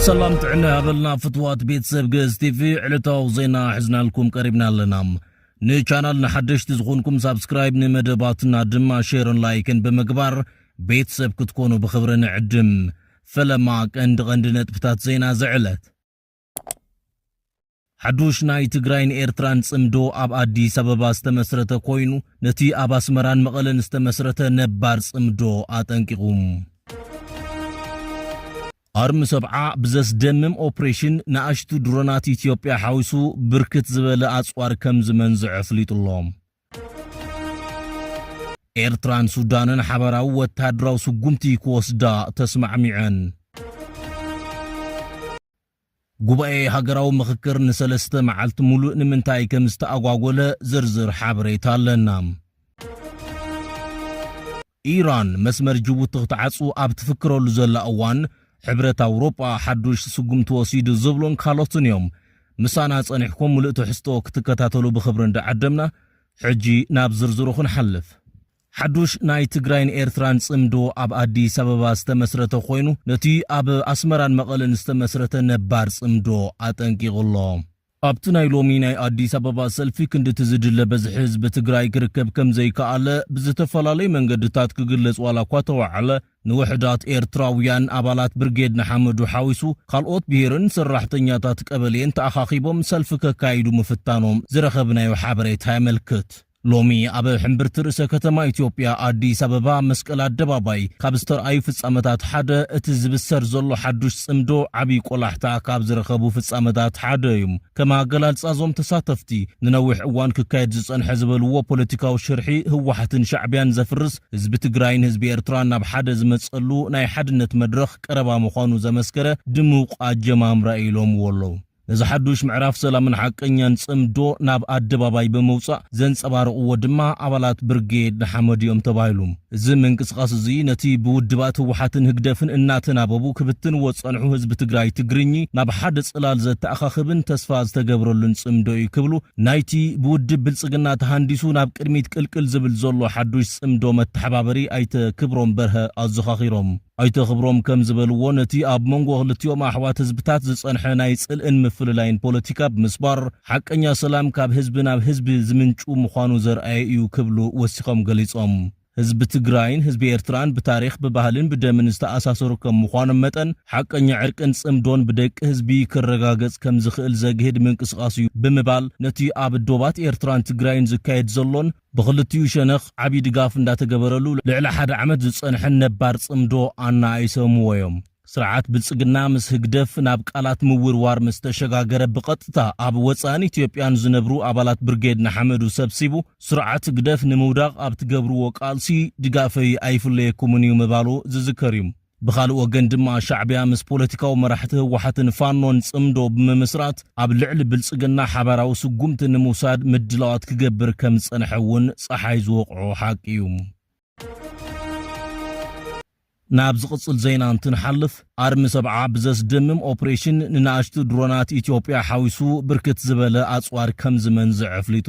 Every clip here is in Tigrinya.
ሰላም ጥዕና ያበልና ፍትዋት ቤተሰብ ግእዝ ቲቪ ዕለታዊ ዜና ሕዝናልኩም ቀሪብና ኣለና ንቻናል ንሓደሽቲ ዝኾንኩም ሳብስክራይብ ንመደባትና ድማ ሼርን ላይክን ብምግባር ቤተሰብ ክትኮኑ ብኽብሪ ንዕድም ፈለማ ቀንዲ ቀንዲ ነጥብታት ዜና ዝዕለት ሓዱሽ ናይ ትግራይን ኤርትራን ጽምዶ ኣብ ኣዲስ ኣበባ ዝተመስረተ ኮይኑ ነቲ ኣብ ኣስመራን መቐለን ዝተመስረተ ነባር ጽምዶ ኣጠንቂቑ። ኣርሚ ሰብዓ ብዘስደምም ኦፕሬሽን ንኣሽቱ ድሮናት ኢትዮጵያ ሓዊሱ ብርክት ዝበለ ኣጽዋር ከም ዝመንዝዐ ኣፍሊጡ ኣሎ። ኤርትራን ሱዳንን ሓበራዊ ወተሃደራዊ ስጉምቲ ክወስዳ ተስማዕሚዐን። ጉባኤ ሃገራዊ ምኽክር ንሰለስተ መዓልቲ ሙሉእ ንምንታይ ከምዝተኣጓጎለ ዝርዝር ሓበሬታ ኣለና። ኢራን መስመር ጅቡቲ ክትዓጹ ኣብ ትፍክረሉ ዘላ እዋን ሕብረት ኣውሮጳ ሓዱሽ ስጉምቲ ወሲዱ ዝብሉን ካልኦትን እዮም። ምሳና ጸኒሕኩም ምሉእ ትሕዝቶ ክትከታተሉ ብኽብሪ እንዳዓደምና ሕጂ ናብ ዝርዝሩ ክንሓልፍ። ሓዱሽ ናይ ትግራይን ኤርትራን ጽምዶ ኣብ ኣዲስ ኣበባ ዝተመስረተ ኮይኑ፣ ነቲ ኣብ ኣስመራን መቐለን ዝተመስረተ ነባር ጽምዶ ኣጠንቂቑ ኣሎ። ኣብቲ ናይ ሎሚ ናይ ኣዲስ ኣበባ ሰልፊ ክንድቲ ዝድለ በዝሒ ህዝቢ ትግራይ ክርከብ ከምዘይከኣለ ብዝተፈላለዩ መንገድታት ክግለጽ ዋላኳ ተወዓለ፣ ንውሕዳት ኤርትራውያን ኣባላት ብርጌድ ንሓመዱ ሓዊሱ ካልኦት ብሄርን ሰራሕተኛታት ቀበሌን ተኣኻኺቦም ሰልፊ ከካይዱ ምፍታኖም ዝረኸብናዮ ሓበሬታ የመልክት። ሎሚ ኣብ ሕምብርቲ ርእሰ ከተማ ኢትዮጵያ ኣዲስ ኣበባ መስቀል ኣደባባይ ካብ ዝተርኣዩ ፍፃመታት ሓደ እቲ ዝብሰር ዘሎ ሓዱሽ ፅምዶ ዓብዪ ቆላሕታ ካብ ዝረኸቡ ፍፃመታት ሓደ እዩ። ከም ኣገላልፃ እዞም ተሳተፍቲ ንነዊሕ እዋን ክካየድ ዝፀንሐ ዝበልዎ ፖለቲካዊ ሽርሒ ህወሓትን ሻዕቢያን ዘፍርስ ህዝቢ ትግራይን ህዝቢ ኤርትራን ናብ ሓደ ዝመፀሉ ናይ ሓድነት መድረኽ ቀረባ ምዃኑ ዘመስከረ ድሙቕ ኣጀማምራ እዩ ኢሎምዎ ኣለው። ነዚ ሓዱሽ ምዕራፍ ሰላምን ሓቀኛን ጽምዶ ናብ ኣደባባይ ብምውጻእ ዘንጸባረቕዎ ድማ ኣባላት ብርጌድ ንሓመዱ'ዮም ተባሂሉ። እዚ ምንቅስቓስ እዚ ነቲ ብውድባት ህወሓትን ህግደፍን እናተናበቡ ክብትንዎ ዝጸንሑ ህዝቢ ትግራይ ትግርኚ ናብ ሓደ ጽላል ዘተኣኻኽብን ተስፋ ዝተገብረሉን ጽምዶ'ዩ ክብሉ ናይቲ ብውድብ ብልጽግና ተሃንዲሱ ናብ ቅድሚት ቅልቅል ዝብል ዘሎ ሓዱሽ ጽምዶ መተሓባበሪ ኣይተ ክብሮም በርሀ ኣዘኻኺሮም። ኣይተ ክብሮም ከም ዝበልዎ፣ ነቲ ኣብ መንጎ ክልቲኦም ኣሕዋት ህዝብታት ዝጸንሐ ናይ ጽልእን ምፍልላይን ፖለቲካ ብምስባር፣ ሓቀኛ ሰላም ካብ ህዝቢ ናብ ህዝቢ ዝምንጩ ምዃኑ ዘርኣየ እዩ ክብሉ ወሲኾም ገሊጾም። ህዝቢ ትግራይን ህዝቢ ኤርትራን ብታሪኽ፣ ብባህልን ብደምን ዝተኣሳሰሩ ከም ምዃኖም መጠን፣ ሓቀኛ ዕርቅን ጽምዶን ብደቂ ህዝቢ ክረጋገጽ ከም ዝኽእል ዘግህድ ምንቅስቓስ እዩ ብምባል፣ ነቲ ኣብ ዶባት ኤርትራን ትግራይን ዝካየድ ዘሎን፣ ብኽልቲኡ ሸነኽ ዓብዪ ድጋፍ እንዳተገበረሉ ልዕሊ ሓደ ዓመት ዝፀንሐን ነባር ፅምዶ ኣናኣኢሰምዎ ዮም። ስርዓት ብልፅግና ምስ ህግደፍ ናብ ቃላት ምውርዋር ምስ ተሸጋገረ ብቐጥታ ኣብ ወፃእን ኢትዮጵያን ዝነብሩ ኣባላት ብርጌድ ንሓመዱ ሰብሲቡ ስርዓት ህግደፍ ንምውዳቕ ኣብ ትገብርዎ ቃልሲ ድጋፈይ ኣይፍለየኩምን ዩ ምባሉ ዝዝከር ዩ። ብኻልእ ወገን ድማ ሻዕቢያ ምስ ፖለቲካዊ መራሕቲ ህወሓትን ፋኖን ፅምዶ ብምምስራት ኣብ ልዕሊ ብልፅግና ሓባራዊ ስጉምቲ ንምውሳድ ምድላዋት ክገብር ከምዝፀንሐ እውን ፀሓይ ዝወቕዖ ሓቂ እዩ። ናብ ዝቕፅል ዜና እንትንሓልፍ ኣርሚ ሰብዓ ብዘስደምም ኦፕሬሽን ንናእሽቱ ድሮናት ኢትዮጵያ ሓዊሱ ብርክት ዝበለ ኣፅዋር ከምዝመንዝዐ ኣፍሊጡ።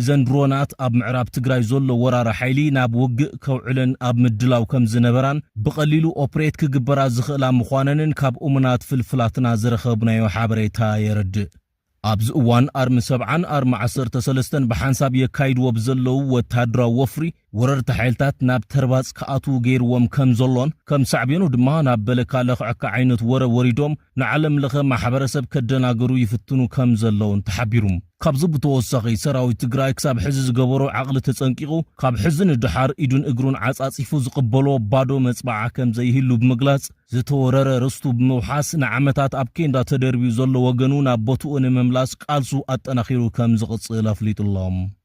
እዘን ድሮናት ኣብ ምዕራብ ትግራይ ዘሎ ወራሪ ሓይሊ ናብ ውግእ ከውዕለን ኣብ ምድላው ከም ዝነበራን ብቐሊሉ ኦፕሬት ክግበራ ዝኽእላ ምዃነንን ካብ እሙናት ፍልፍላትና ዝረኸብናዮ ሓበሬታ የረድእ። ኣብዚ እዋን ኣርሚ ሰብዓን ኣርሚ ዓሰርተ ሰለስተን ብሓንሳብ የካይድዎ ብዘለዉ ወተሃደራዊ ወፍሪ፣ ወረርቲ ሓይልታት ናብ ተርባጽ ክኣትዉ ገይርዎም ከም ዘሎን ከም ሳዕቤኑ ድማ ናብ በለካ ለኽዐካ ዓይነት ወረ ወሪዶም ንዓለም ለኸ ማሕበረሰብ ከደናግሩ ይፍትኑ ከም ዘለዉን ተሓቢሩ። ካብዚ ብተወሳኺ ሰራዊት ትግራይ ክሳብ ሕዚ ዝገበሮ ዓቕሊ ተጸንቂቑ ካብ ሕዚ ንደሓር ኢዱን እግሩን ዓጻጺፉ ዝቕበሎ ባዶ መጽብዓ ከም ዘይህሉ ብምግላጽ ዝተወረረ ርስቱ ብምውሓስ ንዓመታት ኣብ ኬንዳ ተደርብዩ ዘሎ ወገኑ ናብ ቦትኡ ንምምላስ ቃልሱ ኣጠናኺሩ ከም ዝቕጽል ኣፍሊጡ'ሎ።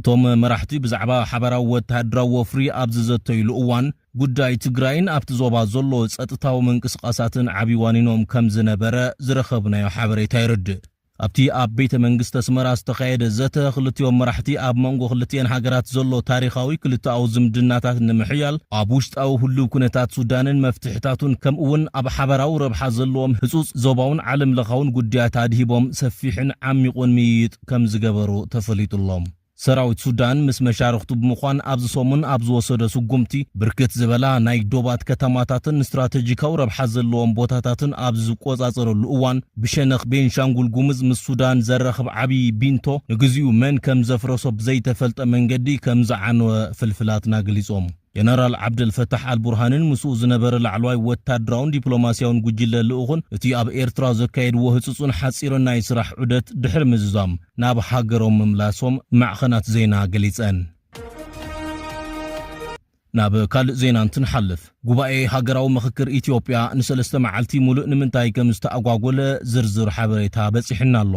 እቶም መራሕቲ ብዛዕባ ሓባራዊ ወተሃደራዊ ወፍሪ ኣብ ዝዘተዩሉ እዋን፣ ጉዳይ ትግራይን ኣብቲ ዞባ ዘሎ ጸጥታዊ ምንቅስቓሳትን ዓብዪ ዋኒኖም ከም ዝነበረ ዝረኸብናዮ ሓበሬታ የረድእ። ኣብቲ ኣብ ቤተ መንግስቲ ኣስመራ ዝተኻየደ ዘተ፣ ክልቲኦም መራሕቲ ኣብ መንጎ ክልቲኤን ሃገራት ዘሎ ታሪኻዊ ክልተኣዊ ዝምድናታት ንምሕያል፣ ኣብ ውሽጣዊ ህሉው ኩነታት ሱዳንን መፍትሕታቱን ከምኡ'ውን ኣብ ሓባራዊ ረብሓ ዘለዎም ህጹጽ ዞባውን ዓለምለኻውን ጉዳያት ኣድሂቦም ሰፊሕን ዓሚቝን ምይይጥ ከምዝገበሩ ተፈሊጡ'ሎ። ሰራዊት ሱዳን ምስ መሻርኽቱ ብምዃን ኣብዚ ሰሙን ኣብ ዝወሰዶ ስጉምቲ፣ ብርክት ዝበላ ናይ ዶባት ከተማታትን ስትራተጂካዊ ረብሓ ዘለዎም ቦታታትን ኣብ ዝቆጻጸረሉ እዋን፣ ብሸነኽ ቤንሻንጉል ጉምዝ ምስ ሱዳን ዘራኽብ ዓብዪ ቢንቶ ንግዚኡ መን ከምዘፍረሶ ብዘይተፈልጠ መንገዲ ከምዝዓነወ ፍልፍላትና ገሊጾም። ጀነራል ዓብደልፈታሕ ኣልቡርሃንን ምስኡ ዝነበረ ላዕለዋይ ወታደራውን ዲፕሎማስያውን ጉጅለ ልኡኽን እቲ ኣብ ኤርትራ ዘካየድዎ ህጹጽን ሓጺርን ናይ ስራሕ ዑደት ድሕሪ ምዝዛም ናብ ሃገሮም ምምላሶም ማዕኸናት ዜና ገሊጸን። ናብ ካልእ ዜና እንትንሓልፍ፣ ጉባኤ ሃገራዊ ምኽክር ኢትዮጵያ ንሰለስተ መዓልቲ ሙሉእ ንምንታይ ከምዝተኣጓጎለ ዝርዝር ሓበሬታ በጺሑና ኣሎ።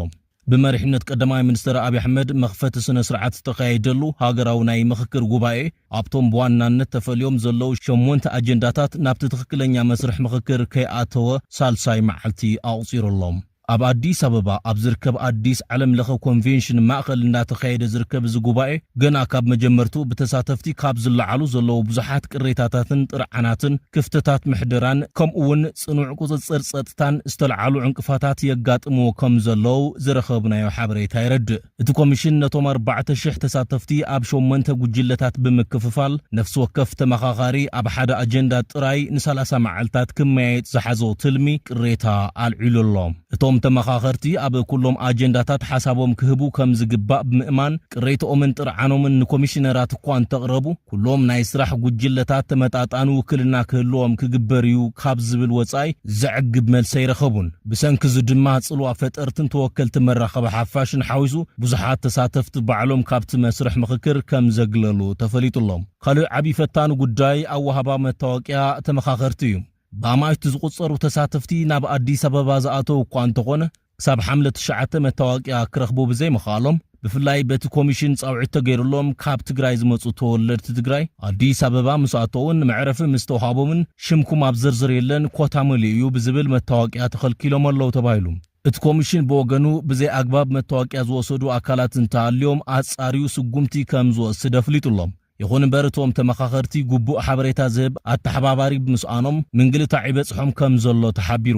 ብመሪሕነት ቀዳማይ ሚኒስተር ኣብይ ኣሕመድ መኽፈቲ ስነ ስርዓት ዝተኻየደሉ ሃገራዊ ናይ ምኽክር ጉባኤ ኣብቶም ብዋናነት ተፈልዮም ዘለዉ ሸሞንተ ኣጀንዳታት ናብቲ ትኽክለኛ መስርሕ ምኽክር ከይኣተወ ሳልሳይ መዓልቲ ኣቑጺሩ ኣሎ። ኣብ ኣዲስ ኣበባ ኣብ ዝርከብ ኣዲስ ዓለም ለኸ ኮንቬንሽን ማእኸል እንዳተኻየደ ዝርከብ እዚ ጉባኤ ገና ካብ መጀመርትኡ ብተሳተፍቲ ካብ ዝለዓሉ ዘለዉ ብዙሓት ቅሬታታትን ጥርዓናትን ክፍተታት ምሕደራን ከምኡ ውን ፅኑዕ ቁፅፅር ፀጥታን ዝተልዓሉ ዕንቅፋታት የጋጥምዎ ከምዘለው ዝረኸብናዮ ሓበሬታ የረድእ። እቲ ኮሚሽን ነቶም ኣርባዕተ ሽሕ ተሳተፍቲ ኣብ ሸሞንተ ጉጅለታት ብምክፍፋል ነፍሲ ወከፍ ተመኻኻሪ ኣብ ሓደ ኣጀንዳ ጥራይ ንሳላሳ መዓልታት ክመያየጥ ዝሓዞ ትልሚ ቅሬታ ኣልዒሉ ኣሎ። እቶም ተመኻኸርቲ ኣብ ኩሎም ኣጀንዳታት ሓሳቦም ክህቡ ከም ዝግባእ ብምእማን፣ ቅሬትኦምን ጥርዓኖምን ንኮሚሽነራት እኳ እንተቕረቡ፣ ኩሎም ናይ ስራሕ ጉጅለታት ተመጣጣኒ ውክልና ክህልዎም ክግበር እዩ ካብ ዝብል ወፃኢ ዘዕግብ መልሲ ኣይረኸቡን። ብሰንኪ እዚ ድማ ፅልዋ ፈጠርትን ተወከልቲ መራኸቢ ሓፋሽን ሓዊሱ ብዙሓት ተሳተፍቲ ባዕሎም ካብቲ መስርሕ ምኽክር ከም ዘግለሉ ተፈሊጡ ኣሎ። ካልእ ዓብዪ ፈታኒ ጉዳይ ኣወሃህባ መታወቂያ ተመኻኸርቲ እዩ። ብኣማኢት ዝቑጸሩ ተሳተፍቲ ናብ ኣዲስ ኣበባ ዝኣተዉ እኳ እንተኾነ ክሳብ ሓምለ ትሽዓተ መታወቅያ ክረኽቡ ብዘይምኽኣሎም ብፍላይ በቲ ኮሚሽን ጻውዒት ተገይርሎም ካብ ትግራይ ዝመጹ ተወለድቲ ትግራይ ኣዲስ ኣበባ ምስ ኣተዉን መዕረፊ ምስ ተውሃቦምን ሽምኩም ኣብ ዝርዝር የለን ኮታ መሊኡ እዩ ብዝብል መታወቅያ ተኸልኪሎም ኣለዉ ተባሂሉ። እቲ ኮሚሽን ብወገኑ ብዘይ ኣግባብ መታወቅያ ዝወሰዱ ኣካላት እንተሃልዮም ኣጻርዩ ስጉምቲ ከም ዝወስድ ኣፍሊጡ'ሎ። ይኹን እምበር እቶም ተመኻኸርቲ ግቡእ ሓበሬታ ዝህብ ኣተሓባባሪ ብምስኣኖም ምንግልታዕ ይበፅሖም ከምዘሎ ተሓቢሩ።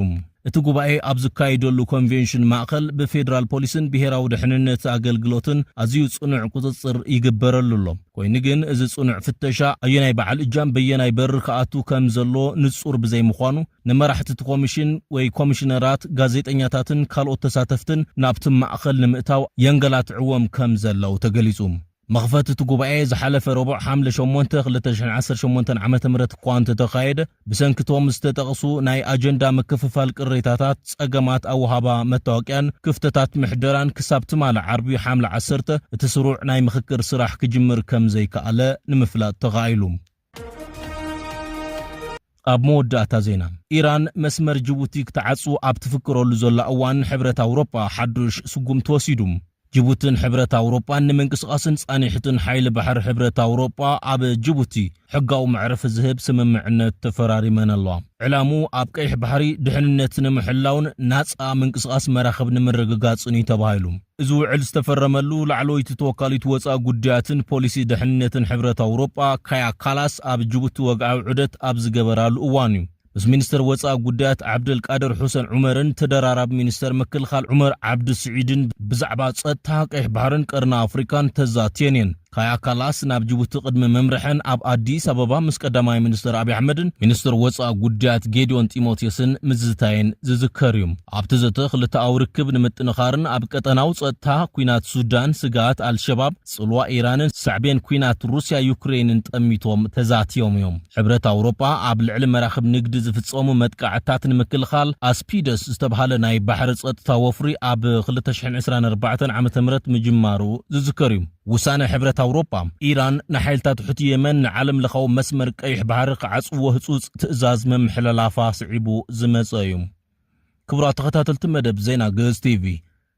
እቲ ጉባኤ ኣብ ዝካየደሉ ኮንቬንሽን ማእኸል ብፌደራል ፖሊስን ብሄራዊ ደሕንነት ኣገልግሎትን ኣዝዩ ፅኑዕ ቁፅፅር ይግበረሉ ኣሎ። ኮይኑ ግን እዚ ፅኑዕ ፍተሻ ኣየናይ በዓል እጃም በየናይ በሪ ክኣቱ ከምዘለዎ ንፁር ብዘይምዃኑ ንመራሕቲ እቲ ኮሚሽን ወይ ኮሚሽነራት፣ ጋዜጠኛታትን ካልኦት ተሳተፍትን ናብቲ ማእኸል ንምእታው የንገላትዕዎም ከምዘለው ተገሊፁ። መኽፈቲ እቲ ጉባኤ ዝሓለፈ ረቡዕ ሓምለ ሸሞንተ ክልተ ሽሕን ዓሰርተ ሸሞንተን ዓመተ ምህረት እኳ እንተተኻየደ፣ ብሰንኪ እቶም ዝተጠቕሱ ናይ ኣጀንዳ ምክፍፋል ቅሬታታት፣ ጸገማት ኣወሃህባ መታወቅያን ክፍተታት ምሕደራን ክሳብ ትማሊ ዓርቢ ሓምለ ዓሰርተ እቲ ስሩዕ ናይ ምኽክር ስራሕ ክጅምር ከምዘይከኣለ ንምፍላጥ ተኻኢሉ። ኣብ መወዳእታ ዜና ኢራን መስመር ጅቡቲ ክትዓጹ ኣብ ትፍክረሉ ዘላ እዋን ሕብረት ኣውሮጳ ሓዱሽ ስጉምቲ ወሲዱ። ጅቡትን ሕብረት ኣውሮጳን ንምንቅስቓስን ጻኒሕትን ሓይሊ ባሕሪ ሕብረት ኣውሮጳ ኣብ ጅቡቲ ሕጋዊ መዕረፊ ዝህብ ስምምዕነት ተፈራሪመን ኣለዋ። ዕላምኡ ኣብ ቀይሕ ባሕሪ ድሕንነት ንምሕላውን ናጻ ምንቅስቓስ መራኽብ ንምርግጋጽን እዩ ተባሂሉ። እዚ ውዕል ዝተፈረመሉ ላዕለወይቲ ተወካሊት ወፃኢ ጉዳያትን ፖሊሲ ደሕንነትን ሕብረት ኣውሮጳ ካያ ካላስ ኣብ ጅቡቲ ወግዓዊ ዑደት ኣብ ዝገበራሉ እዋን እዩ። ምስ ሚኒስተር ወፃኢ ጉዳያት ዓብደልቃድር ሑሰን ዑመርን ተደራራቢ ሚኒስተር ምክልኻል ዑመር ዓብዲ ስዒድን ብዛዕባ ፀጥታ፣ ቀይሕ ባሕርን ቀርኒ ኣፍሪካን ተዛትየን እየን። ካያ ካላስ ናብ ጅቡቲ ቅድሚ ምምርሐን ኣብ ኣዲስ ኣበባ ምስ ቀዳማይ ሚኒስተር ኣብዪ ኣሕመድን ሚኒስተር ወጻኢ ጉዳያት ጌዲዮን ጢሞቴስን ምዝታየን ዝዝከር እዩ። ኣብቲ ዘተ ክልተኣዊ ርክብ ንምጥንኻርን ኣብ ቀጠናዊ ጸጥታ፣ ኲናት ሱዳን፣ ስግኣት ኣልሸባብ፣ ጽልዋ ኢራንን ሳዕቤን ኲናት ሩስያ ዩክረይንን ጠሚቶም ተዛቲዮም እዮም። ሕብረት ኣውሮጳ ኣብ ልዕሊ መራኽብ ንግዲ ዝፍጸሙ መጥቃዕትታት ንምክልኻል ኣስፒደስ ዝተብሃለ ናይ ባሕሪ ጸጥታ ወፍሪ ኣብ ክልተ ሽሕን ዕስራን ኣርባዕተን ዓመተ ምህረት ምጅማሩ ዝዝከር እዩ። ውሳነ ሕብረት ኣውሮጳ፣ ኢራን ንሓይልታት ሑቲ የመን ንዓለምለኻዊ መስመር ቀይሕ ባሕሪ ክዓጽዎ ህጹጽ ትእዛዝ ምምሕልላፋ ስዒቡ ዝመጸ እዩ። ክቡራት ተኸታተልቲ መደብ ዜና ግእዝ ቲቪ፣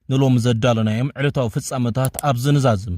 ንሎሚ ዘዳለናዮም ዕለታዊ ፍጻመታት ኣብዚ ንዛዝም።